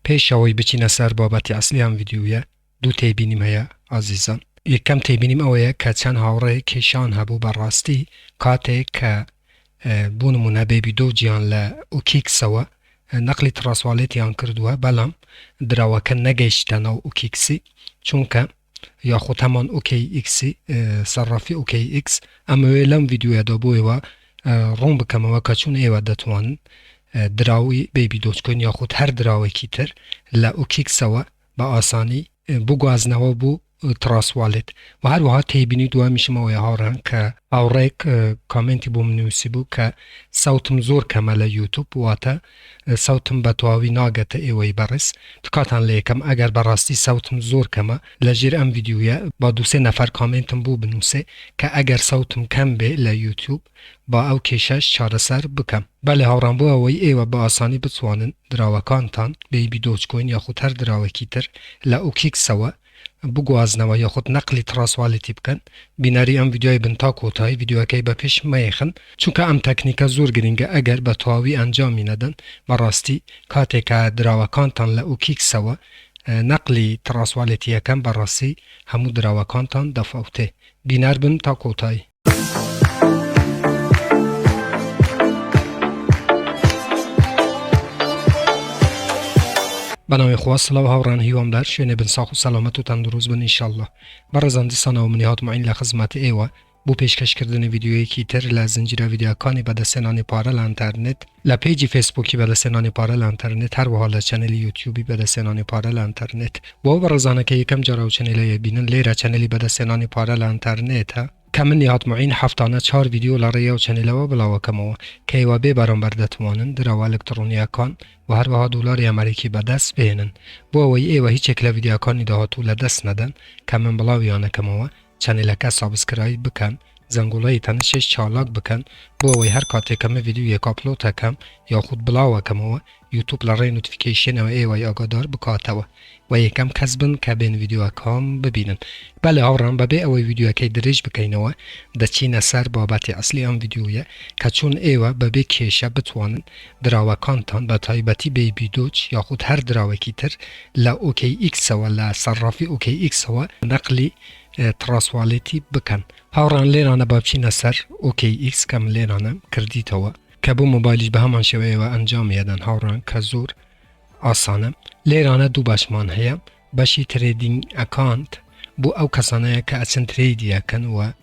پێش ئەوەی بچینە سەر بابەتی ئەسڵی ئەم ڤیدیویە دوو تێبینیم هەیە ئازیزان. یەکەم تێبینیم ئەوەیە کە چەند هاوڕێیەک کێشەیان هەبوو بە ڕاستی کاتێک کە بۆ نموونە بێبی دۆ جیان لە ئوکیکسەوە نەقلی تڕاسوالێتیان کردووە بەلام دراوەکە نەگەیشتە ناو ئوکیکسی چونکە یاخود هەمان ئۆکەی ئیکسی سەرافی ئۆکەی ئیکس ئەمەوێ لەم ڤیددیوەدا بۆ ئێوە ڕوون بکەمەوە کە چون ئێوە دەتوان دراوی بەیبی دۆچکۆن یاخود هەر دراوێکی تر لە ئۆکیکسەوە بە ئاسانی بگوازنەوە بوو تراسوالێت و هەروەها تێبینی دوامیشمەوەی هاڕان کە ئاوڕێک کامنتی بۆ منوسی بوو کە ساوتم زۆر کەمە لە یوتوب واتە سەوتم بەتەواوی ناگەتە ئێوەی بەڕێز تکاتان لەیەکەم ئەگەر بەڕاستی سەوتم زۆر کەمە لەژێر ئەم ڤیدیویە با دوو سێ نەفەر کامێنتم بۆ بنوسێ کە ئەگەر سەوتم کەم بێ لە یوتوب با ئەو کێشەش چارەسەر بکەم بەلێ هاوڕام بۆ ئەوەی ئێوە بە ئاسانی بتوانن دراوەکانتان بەیبی دۆج کۆین یاخود هەر دراوەکی تر لە ئوکیکسەوە بگوازنەوە یاخود نەقلی تڕاسوالیتی بکەن بینەری ئەم ڤیدیۆیە بن تا کۆتایی ڤیدیۆکەی بە پشت مەیخن چونکە ئەم تەکنیکە زۆر گرینگە ئەگەر بە تەواوی ئەنجامی نەدەن بەڕاستی کاتێ کە دراوەکانتان لە ئوکیکسەوە نەقلی تڕاسوالیتی ئەکەن بەڕاستی هەموو دراوەکانتان دەفەوتێ بینەر بن تا کۆتایی. بەناوی خوا سڵاو هاوڕان هیوام لە هەر شوێنێ بن ساخ و سەلامەت و تەندروست بن ئینشاءاللە بەڕێزان دیسانەوە منی هاتمعین لە خزمەت ئێوە بۆ پێشکەشکردنی ڤیددیوەیەکی تر لە زنجیرە ڤیددیوەکانی بەدەستێنانی پارە لە ئەنتەرنێت لە پەیجی فەیسبووکی بەدەستهێنانی پارە لە ئەنتەرنێت هەروەها لە چەنێلی یوتیوبی بەدەستهێنانی پارە لە ئەنتەرنێت بۆ ئەو بەڕێزانە کە یەکەم جار ئەو چەنێلە یەبینن لێرە چەنێلی بەدەستهێنانی پارە لە ئەنتەرنێتە کە من نیهاد موعین هەفتانە چوار ڤیدیۆ لە ڕێی ئەو چەنێلەوە بڵاوەکەمەوە کە ئێوە بێ بەرامبەر دەتوانن دراوە ئەلکتڕۆنییەکان و هەروەها دۆلاری ئەمەریکی بەدەست بهێنن بۆ ئەوەی ئێوە هیچێک لە ڤیدیاکانی داهاتوو لە دەست نەدەن کە من بڵاویانەکەمەوە چەنێلەکە سابسکرایب بکەن زەنگۆڵەی تەنشێش چالاک بکەن بۆ ئەوەی هەر کاتێ کە من ڤیدیۆیەک ئاپلۆت ئەکەم یاخود بڵاو ئەکەمەوە یوتوب لە ڕێی نوتفیکەیشێنەوە ئێوەی ئاگادار بکاتەوە و یەکەم کەس بن کە بێن ڤیدیۆکام ببینن بەلێ هاوڕام بەبێ ئەوەی ڤیدیۆکەی درێژ بکەینەوە دەچینە سەر بابەتی ئەسلی ئەم ڤیدیۆیە کە چۆن ئێوە بەبێ کێشە بتوانن دراوەکانتان بە تایبەتی بەیبی دۆج یاخود هەر دراوێکی تر لە ئۆکەی ئیکسەوە لە سەرڕافی ئۆکەی ئیکسەوە نەقلی تڕاس والێتی بکەن هاوڕێیان لێرانە با بچینە سەر ئۆکەی ئیکس کە من لێرانم کردیتەوە کە بۆ مۆبایلیش بە هەمان شێوەیەوە ئەنجامی ئەدەن هاوڕێیان کە زۆر ئاسانە لێرانە دوو بەشمان هەیە بەشی ترێدینگ ئەکانت بۆ ئەو کەسانەیە کە ئەچن ترێدی ئەکەن و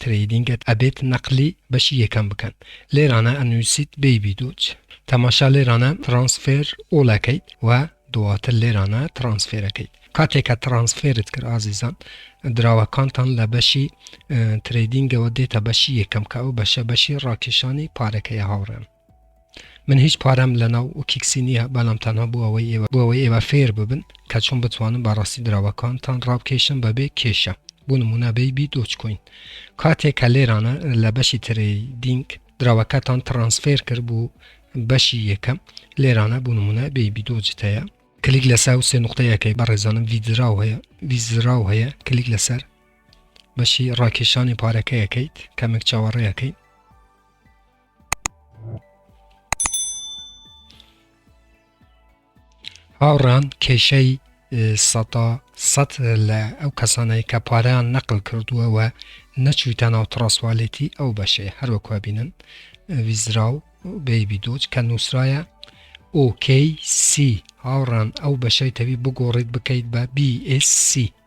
ترەیدینگت ئەبێت نەقلی بەشی یەکەم بکەن لێرانە ئەنووسیت بەیبی دۆج تەماشا لێرانە ترانسفێر ئۆڵ ئەکەیت و دواتر لێرانە ترانسفێرەکەیت کاتێک کە ترانسفێرت کرد ئازیزان دراوەکانتان لە بەشی ترەیدینگەوە دێتە بەشی یەکەم کە ئەو بەشە بەشی ڕاکێشانی پارەکەی هاوڕێن من هیچ پارەم لەناو وکیکسی نییە بەلام تەنها بۆ ئەوەی ئێوە بۆ ئەوەی ئێوە فێر ببن کە چۆن بتوانن بە ڕاستی دراوەکانتان ڕابکێشن بە بێ کێشە بۆ نمونە بەیبی دۆج کۆین کاتێک کە لێرانە لە بەشی ترەیدینگ دراوەکەتان ترانسفێر کرد بۆ بەشی یەکەم لێرانە بۆ نمونە بەیبی دۆجت هەیە کلیک لەسەر و سێ نقطەیەکەی بەڕێزانم ویدراو هەیە ویزراو هەیە کلیک لەسەر بەشی ڕاکێشانی پارەکەیەکەیت کەمێک چاوەڕێیەکەی هاوڕان کێشەی سەدا سەد لە ئەو کەسانەی کە پارەیان نەقل کردووە و نەچویتە ناو تڕاسوالێتی ئەو بەشەیە هەروەکوە بینن ویزرا و بەیبی دۆچ کە نووسراە ئۆکەی سی هاوڕان ئەو بەشەی تەوی بگۆڕیت بکەیت بە BSC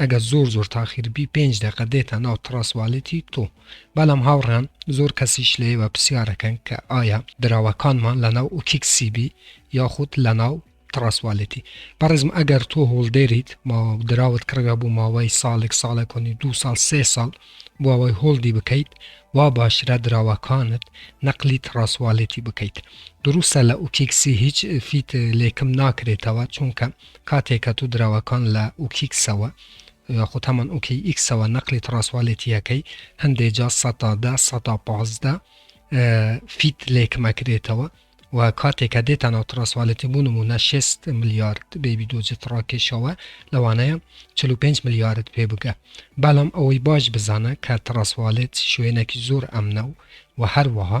ئەگەر زۆر زۆر تاخیر بی پێنج دەقە دێتە ناو تڕاسوالیتی تۆ بەلام هاوڕێیان زۆر کەسیش لە ئێوە پسیارەکەن کە ئایا دراوەکانمان لە ناو ئوکیک سی بی یاخود لە ناو تڕاسوالیتی بەڕێزم ئەگەر تۆ هۆڵدێریت ماوە دراوت کڕیوە بۆ ماوەی ساڵێک ساڵێک و نیو دوو ساڵ سێ ساڵ بۆ ئەوەی هۆڵدی بکەیت وا باشرە دراوەکانت نەقلی تڕاسوالیتی بکەیت دروستە لە ئوکیک سی هیچ فیت لێکم ناکرێتەوە چونکە کاتێ کە تو دراوەکان لە ئوکیکسەوە یاخود هەمان ئوکی ئیکسەوە نەقلی تڕاسوالێتییەکەی هەندێ جا سەتا دە سەتا پازدە فیت لێ کمەکرێتەوە و کاتێ کە دێتە ناو تڕاسوالێتی بوو نمونە شێست ملیارد بێبی دۆجی تڕاکێشەوە لەوانەیە چل و پێنج ملیارد پێ بگە بەڵام ئەوەی باش بزانە کە تڕاسوالێت شوێنێکی زۆر ئەمنە و و هەروەها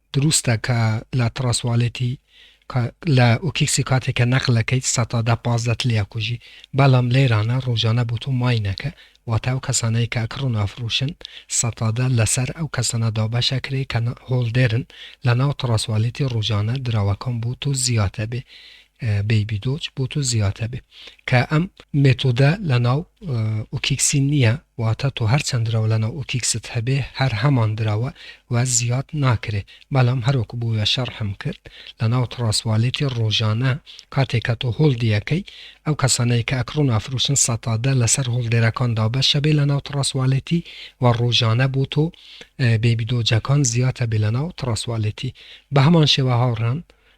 دروستە کە لە تڕاسواڵێتی کە لە ئوکیکسی کاتێ کە نەقل ئەکەیت سە تا دە پازدە ت لێئەکوژی بەڵام لێرانە ڕۆژانە بۆ تۆ ماینەکە واتە ئەو کەسانەی کە ئەکڕن و ئەفڕوشن سە تا دە لەسەر ئەو کەسانە دابەش ئەکرێ کە هۆڵدێرن لە ناو تڕاسواڵێتی ڕۆژانە دراوەکان بۆ تۆ زیاد ئەبێ بەیبی دۆج بۆ تۆ زیاتر بێ کە ئەم مێتۆدە لە ناو ئۆکیکسی نییە واتە تۆ هەر چەند درەوە لە ناو ئۆکیکست هەبێ هەر هەمان درەوە و زیاد ناکرێ بەڵام هەرۆک بووە شەڕحم کرد لە ناو تڕاسوالێتی ڕۆژانە کاتێک کە تۆ هۆڵ دیەکەی ئەو کەسانەی کە ئەکڕۆن ئافروشن سەتادە لەسەر هۆڵدێرەکان دابەشە بێ لە ناو تڕاسوالێتی و ڕۆژانە بۆ تۆ بێبیدۆجەکان زیاتە بێ لە ناو تڕاسوالێتی بە هەمان شێوە هاوڕان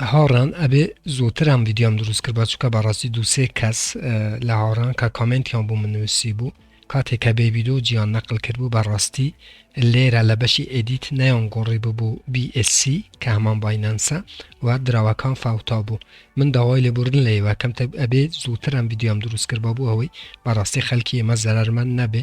لە هاوڕێیان ئەبێ زووتر ئەم ڤیدیۆم دروست کردبا چونکە بەڕاستی دوو سێ کەس لە هاوڕان کە کامنتیان بوو من نووسی بوو کاتێک کە بێ ڤیدیو جیان نەقل کرد بوو بەڕاستی لێرە لە بەشی ئێدیت نەیان گۆڕی ببوو BSC کە هەمان باینەنسە و دراوەکان فاوتا بوو من داوای لێبوردن لە ئێوە کەم ئەبێ زووتر ئەم ڤیدیۆم دروست کردبا بوو ئەوەی بەڕاستی خەلکی ئێمە زەرمەند نەبێ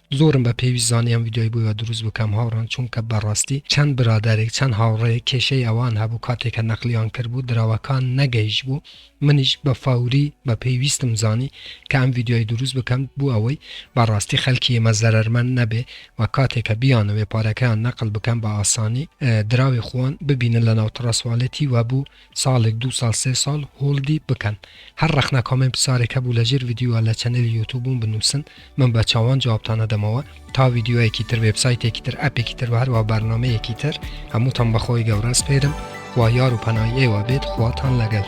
زۆرم بە پێویست زانی ئەم ڤیدیۆی بۆیوە دروست بکەم هاوڕێم چونکە بەڕاستی چەند برادەرێک چەند هاوڕێیەک کێشەی ئەوان هەبوو کاتێک کە نەقلیان کردبوو دراوەکان نەگەیشتبوو منیش بە فەوری بە پێویستم زانی کە ئەم ڤیدیۆی دروست بکەم بۆ ئەوەی بەڕاستی خەلکی ئێمە زەرەرمەند نەبێ و کاتێک کە بیانەوێ پارەکەیان نەقل بکەن بە ئاسانی دراوی خۆان ببینن لەناو تڕەسوالێتی و بوو ساڵێک دوو ساڵ سێ ساڵ هۆڵدی بکەن هەر ڕەخنە کۆمێن پسارێک هەبوو لە ژێر ڤیدیۆ لە چەنێلی یوتوبوم بنوسن من بە چاوان جوابتان ئەدەمەوە تا ڤیدیۆیەکی تر وێبسایتێکی تر ئەپێکی تر هەروە بەرنمەیەکی تر هەمووتان بەخۆی گەورە سپێرم خوا یار و پەنای ئێوە بێت خواتان لەگەل